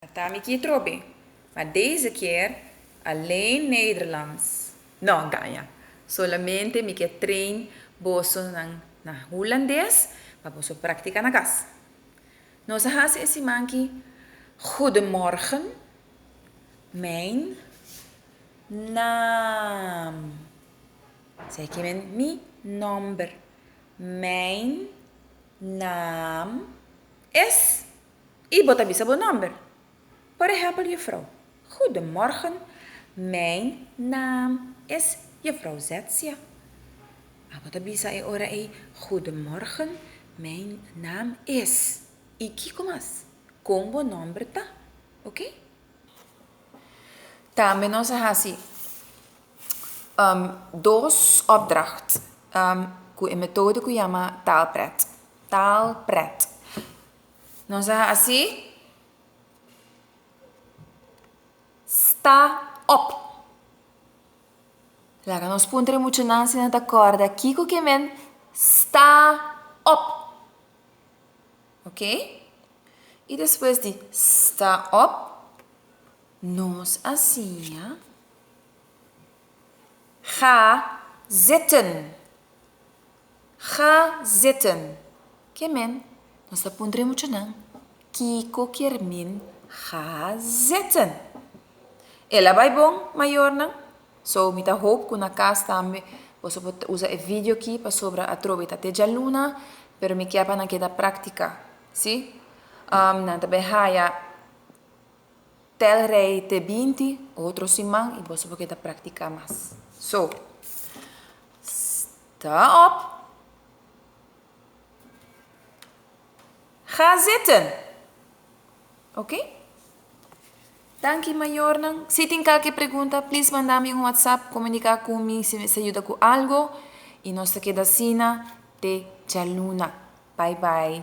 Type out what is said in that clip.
Ta mi ki trobe, ma deze kier Alain Nederlands no gaña. Solamente mi ke train boso nan na Hulandes pa boso praktika na kas. Nos a hasi e siman ki Goedemorgen, mijn naam. Esei ki men mi nomber. Mijn naam is. I bo ta bisa bo nòmber. Por ehèmpel Jufrou. Goedemorgen, mijn naam is Jufrou Zetzia. A bo ta bisa e ora ei, Goedemorgen, mijn naam is. I kiko mas? Kon bo nòmber ta? Oké? Tambe nos a hasi dos opdracht ku e metodo ku yama taalpret. Taalpret. Nos a hasi sta op. Laga nos puntra e muchanan si nan ta kòrda kiko ke men sta op. Ok? I despues di sta op, nos a siña ga zitten. Ga zitten! Ke men? Nos ta puntra e muchanan kiko kier min ga zitten. El a bai bon, mayornan. So, mi ta hoop ku na kas tambe boso por usa e vidio ki pasobra atrobe ta te djaluna, pero mi kier pa nan keda praktika, si. Nan ta bai haya tèlrei te binti otro siman i boso por keda praktika mas. So. Ta op. Ga zitten. Ok. Danki mayornan. Si tin kalke pregunta please manda mi un whatsapp comunica cu mi si mester yuda cu algo y nos ta keda asina te djaluna. Bye bye.